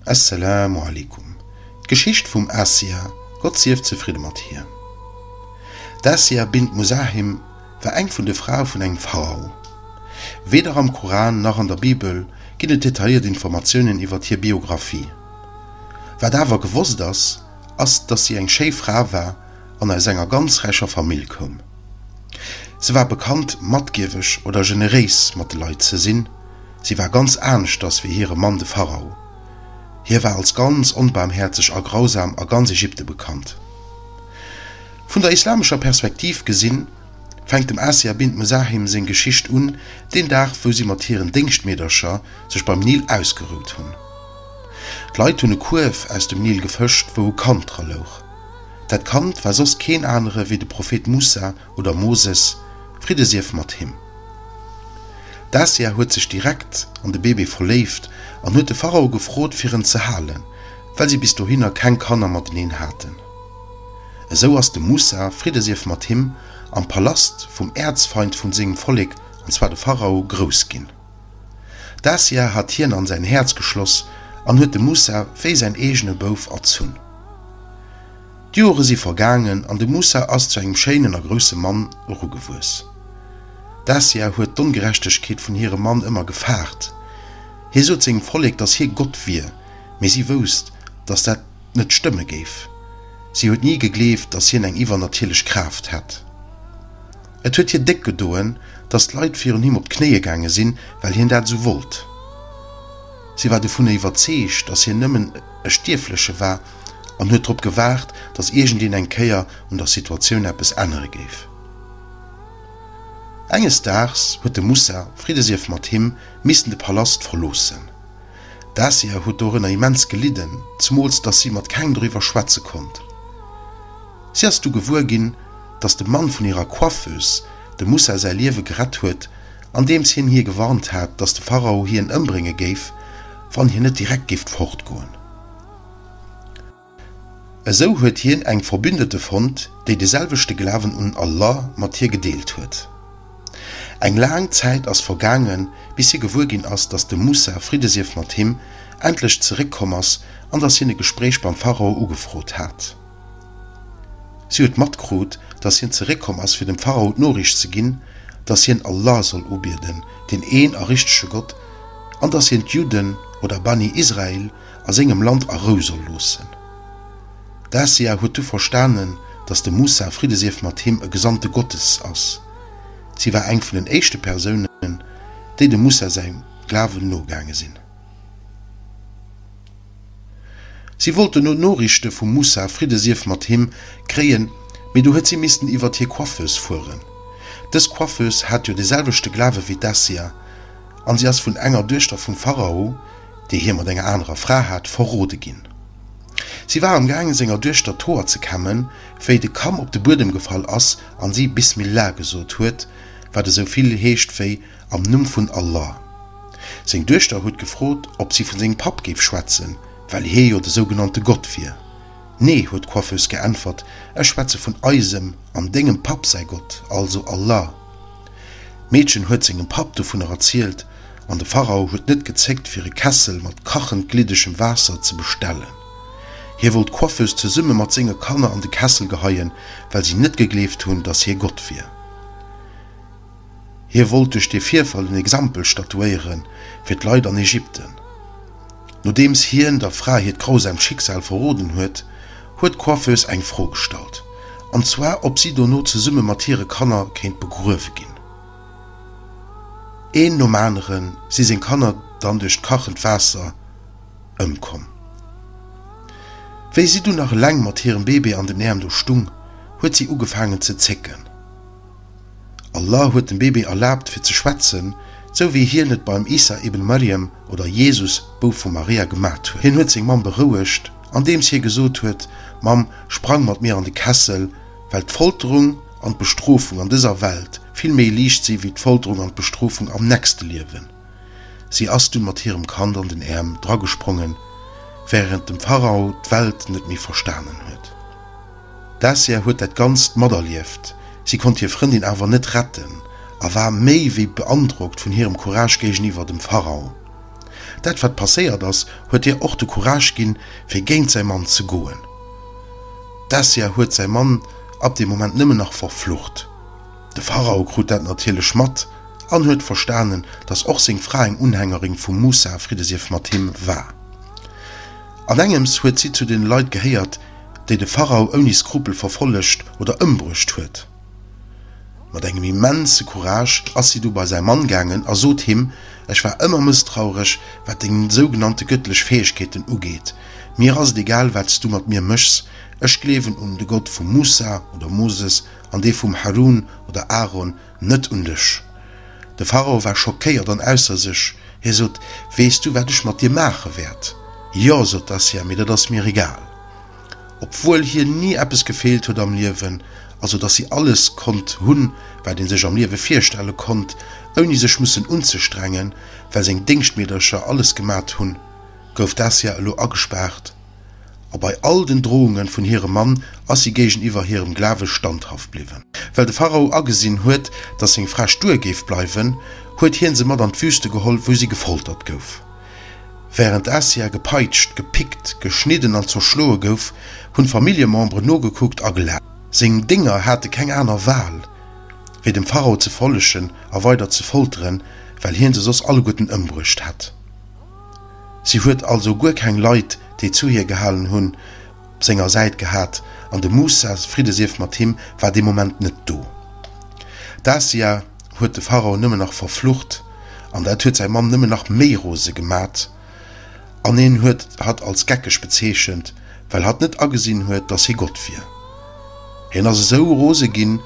Esselamu Aleykum, D'Geschicht vum Asia, Gott sief zefridde mat hir. D'Asia bint Muzahim war eng vun de Frae vun engem Pharao. Weder am Koran nach an der Bibel ginn et detailléiert Informatiounen iwwert hir Biographie. Wat awer gewosst ass, ass datt si eng schéi Fra war an aus enger ganz räicher Famill koum. Se war bekannt matgieweg oder generéis mat de Leit ze sinn. Si war ganz aneschters wéi hire Mann de Pharao. Hie war als ganz onbaarmhäerzeg a grausam a ganz Ägypte bekannt. Vun der islamescher Perspektiv gesinn, fänkt dem Asia bint Muzahim seng Geschicht un, deen Dag wou si mat hiren Déngschtmeedercher sech beim Nil ausgerout hunn. D'Leit hunn e Kuerf aus dem Nil gefëscht wou e Kand dra louch. Dat Kand war soss keen anere wéi de Prophet Moussa, oder Moses, Fridde sief mat him. D'Asia huet sech direkt an de Bébé verléift an huet de Pharao gefrot, fir en ze halen, well si bis dohinner keng Kanner mateneen haten. Esou ass de Musa, Fridde sief mat him, am Palast vum Äerzfeind vun sengem Vollek, an zwar de Pharao, grouss ginn. D'Asia hat hien an säin Häerz geschloss an huet de Musa wéi säin eegene Bouf erzunn. D'Jore si vergaangen an de Moussa ass zu engem schéinen a grousse Mann erugewuess. D'Asia huet d'Ongerechtegkeet vun hirem Mann ëmmer gefaart. Hie sot sengem Vollek, datt hie Gott wier, mee si wousst, datt dat net stëmme géif. Si huet ni gegleeft, datt hien eng iwwernatierlech Kraaft hätt. Et huet hir déck gedoen, datt d'Leit virun him op d'Knéie gaange sinn, well hien dat esou wollt. Si war dovunner iwwerzeegt, datt hien nëmmen e Stierfleche war, an huet drop gewaart, datt iergendeen eng Kéier un der Situatioun eppes ännere géif. Enges Daags huet de Mussa, Friddesief mat him, missen de Palast verloossen. D'Asia huet dorënner immens gelidden, zemools datt si mat kengem doriwwer schwätze konnt. Si ass du gewuer ginn, datt de Mann vun hirer Coiffeuse dem Mussa säi Liewe gerett huet, andeems hien hie gewarnt hat, datt de Pharao hien ëmbrénge géif, wann hien net direkt géif fortgoen. Esou huet hien eng Verbündete fonnt, déi de selwechte Glawen un Allah mat hir gedeelt huet. Eng laang Zäit ass vergaangen, bis hie gewuer ginn ass, datt de Musa, Fridde sief mat him, endlech zeréck komm ass an datt hien e Gespréich beim Pharao ugefrot hat. Si huet matkrut, datt hien zeréck komm ass, fir dem Pharao d'Noriicht ze ginn, datt hien Allah soll ubieden, deen een a richtege Gott, an datt hien d'Judden, oder Bani Israil, a sengem Land a Rou soll loossen. D'Asia huet du verstanen, datt de Musa, Fridde sief mat him, e Gesandte Gottes ass. Si war eng vun den éischte Persounen, déi dem Musa säi Glawen nogaange sinn. Si wollt dono Noriichte vum Musa, Fridde sief mat him, kréien, mee du huet si missten iwwert hir Coiffeuse fueren. Dës Coiffeuse hat jo de selwechte Glawe wéi d'Asia, an si ass vun enger Duechter vum Pharao, déi hie mat enger anerer Fra hat, verrode ginn. Si war am gaange senger Duechter d'Hoer ze kämmen, wéi de Kamm op de Buedem gefall ass a si Bismillah gesot huet, wat esou vill heescht wéi Am Numm vun Allah. Seng Duechter huet gefrot, ob si vun sengem Papp géif schwätzen, well hie jo de sougenannte Gott wier. Nee, huet d'Coiffeuse geäntwert, ech schwätze vun eisem an dengem Papp säi Gott, also Allah. D'Meedchen huet sengem Papp dovunner erzielt, an de Pharao huet net gezéckt, fir e Kessel mat kachend gliddegem Waasser ze bestellen. Hie wollt d'Coiffeuse zesumme mat senge Kanner an de Kessel geheien, well si net gegleeft hunn, datt hie Gott wier. Hie wollt duerch dee Virfall en Exempel statuéieren fir d'Leit an Ägypten. Nodeems hien der Fra hiert grausaamt Schicksal verroden huet, huet d'Coiffeuse eng Fro gestallt, an zwar ob si dono zesumme mat hire Kanner kéint begruewe ginn. Een nom anere si seng Kanner dann duerch d'kachend Waasser ëmkomm. Wéi si dunn nach eleng mat hirem Bébé an den Äerm do stung, huet si ugefaangen ze zécken. Allah huet dem Bébé erlaabt fir ze schwätzen, sou wéi Hien et beim Isa ibn Marjam oder Jesus, Bouf vu Maria, gemat huet. Hien huet seng Mamm berouegt, andeems Hie gesot huet, Mamm, sprang mat mir an de Kessel, well d'Folterung an d'Bestrofung an dëser Welt vill méi liicht si wéi d'Folterung an d'Bestrofung am nächste Liewen. Si ass dunn mat hirem Kand an den Äerm dragesprongen, während dem Pharao d'Welt net méi verstanen huet. D'Dacia huet dat Ganzt materlieft, si konnt hir Frëndin awer net retten a war méi wéi beandrockt vun hirem Courage géigeniwwer dem Pharao. Dat wat passéiert ass, huet hir och de Courage ginn, fir géint säi Mann ze goen. D'Dacia huet säi Mann ab deem Moment nëmmen nach verflucht. De Pharao krut dat natierlech mat an huet verstanen, datt och seng Fra eng Unhängerin vum Musa, Friddesief mat him, war. An engems huet si zu deene Leit gehéiert, déi de Pharao ouni Skrupel verfollegt oder ëmbruecht huet. Mat engem immense Courage ass si du bei säi Mann gaangen a sot him, Ech war ëmmer mësstraureg, wat deng sougenannte gëttlech Fäegkeeten ugeet. Mir ass et egal, wat s du mat mir méchs. Ech gleewen un de Gott vum Moussa oder Moses an dee vum Harun oder Aaron. Net un dech! De Pharao war schockéiert an ausser sech. Hie sot, Weess du, wat ech mat dir maache wäert? Jo, sot d'Assia, mee dat ass mir egal. Obwuel hir ni eppes gefeelt huet am Liewen, also datt si alles konnt hunn, wat ee sech am Liewe virstelle konnt, ouni sech mussen unzestrengen, well seng Déngschtmeedercher alles gemat hunn, gouf d'Assia elo agespaart. a bei all den Drohunge vun hirem Mann ass si géigeniwwer hirem Glawe standhaft bliwwen. Well de Pharao agesinn huet, datt seng Fra stuer géif bleiwen, huet hie se mat an d'Wüste geholl, wou si gefoltert gouf. Wärend Asia gepeitscht, gepickt, geschnidden an zerschloe gouf, hunn d'Familljememberen nogekuckt a gelaacht. Seng Dénger hate keng aner Wal, wéi dem Pharao ze follegen a weider ze folteren, well hien se soss alleguerten ëmbruecht hätt. Si huet also guer keng Leit, déi zu hir gehalen hunn, op senger Säit gehat, an de Moussa, Friddesief mat him, war dee Moment net do. D'Asia huet de Pharao nëmmen nach verflucht, an dat huet säi Mann nëmmen nach méi rose gemat, an en huet hatt als geckeg bezeechent, well hatt net agesinn huet, datt hie Gott wier. Hien ass esou rose ginn,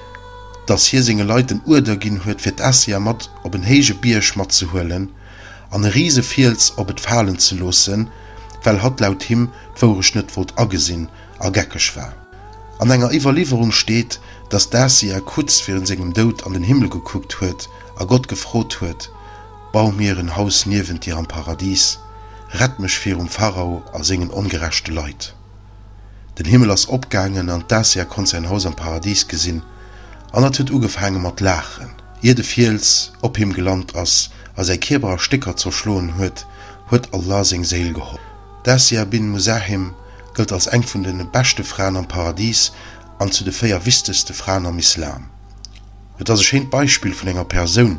datt hie senge Leit den Uerder ginn huet, fir d'Asia mat op en héije Bierg matzehuelen, an e Risefiels op et falen ze loossen, well hatt laut him d'Wourecht net wollt agesinn a geckeg war. An enger Iwwerliwwerung steet, datt d'Asia kucz virun sengem Doud an den Himmel gekuckt huet a Gott gefrot huet, Bau mir en Haus niewent dir am Paradies, rett mech virum Pharao a sengen ongerechte Leit. Den Himmel ass opgaangen an d'Dacia konnt säin Haus am Paradis gesinn an et huet ugefaange mat laachen. Ier de Fiels op him gelant ass a säi Kierper a Stécker zerschloen huet, huet Allah seng Séil geholl. D'Dacia bint Muzahim gëllt als eng vun de beschte Fraen am Paradis an zu de véier wichtegste Fraen am Islam. Et ass e schéint Beispill vun enger Persoun,